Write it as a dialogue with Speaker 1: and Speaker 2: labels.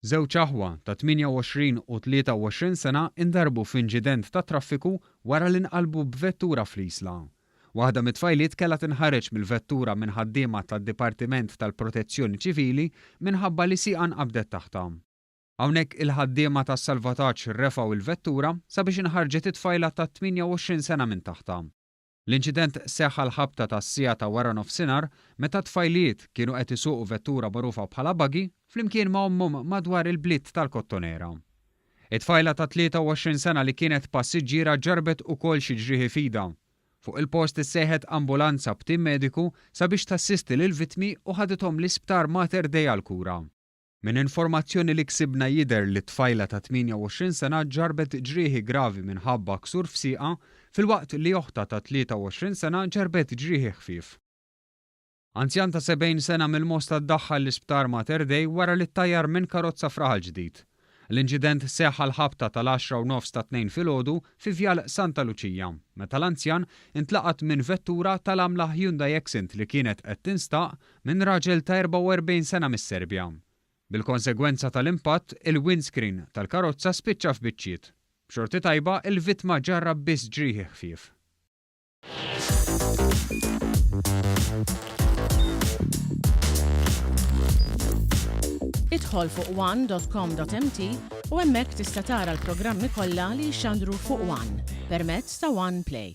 Speaker 1: Żewġ aħwa ta' 28 u 23 sena ndarbu f'inġident tat-traffiku wara li nqalbu b'vettura fl-Isla. Waħda mit-tfajliet kellha tinħareġ mill-vettura minn ħaddiema tad-Dipartiment tal-Protezzjoni Ċivili minħabba li sieqa nqabdet taħtha. Hawnhekk il-ħaddiema tas-salvataġġ refgħu l-vettura sabiex inħarġet it-tfajla ta' 28 sena minn taħtha. L-inċident seħħ għall-ħabta tas-siegħa ta' waranofsinhar meta t-tfajliet kienu qed isuqu vettura magħrufa bħala buggy flimkien ma' ommhom madwar il-bliet tal-Kottonera. It-tfajla ta' 23 sena li kienet passiġġiera ġarrbet ukoll xi ġrieħi f'idha. Fuq il-post issejħet ambulanza b'tim mediku sabiex tassisti lill-vittmi u ħadithom l-Isptar Mater Dei għall-kura. Minn informazzjoni li ksibna jidher li tfajla ta' 28 sena ġarrbet ġrieħi gravi minħabba ksur f'sieqha, filwaqt li oħtha ta' 23 sena ġarrbet ġrieħi ħfief. Anzjan ta' 70 sena mill-Mosta ddaħħal l-Isptar Mater Dei wara li ttajjar minn karozza f'Raħal Ġdid. L-inċident seħħ għall-ħabta tal-għaxra u nofs tat-Tnejn filgħodu fi Vjal Santa Luċija, meta l-anzjan intlaqat minn vettura tal-għamla Hyundai Accent li kienet qed tinstaq minn raġel ta' 44 sena mis-Serbja. Bil-konsegwenza tal-impatt, il-windscreen tal-karozza spiċċa f'biċċiet. B'xorti tajba, il-vittma ġarrab biss ġrieħi ħfief.
Speaker 2: Idħol fuq one dot com dot mt u hemmhekk tista' tara l-programmi kollha li jixxandru fuq one permezz ta' one play.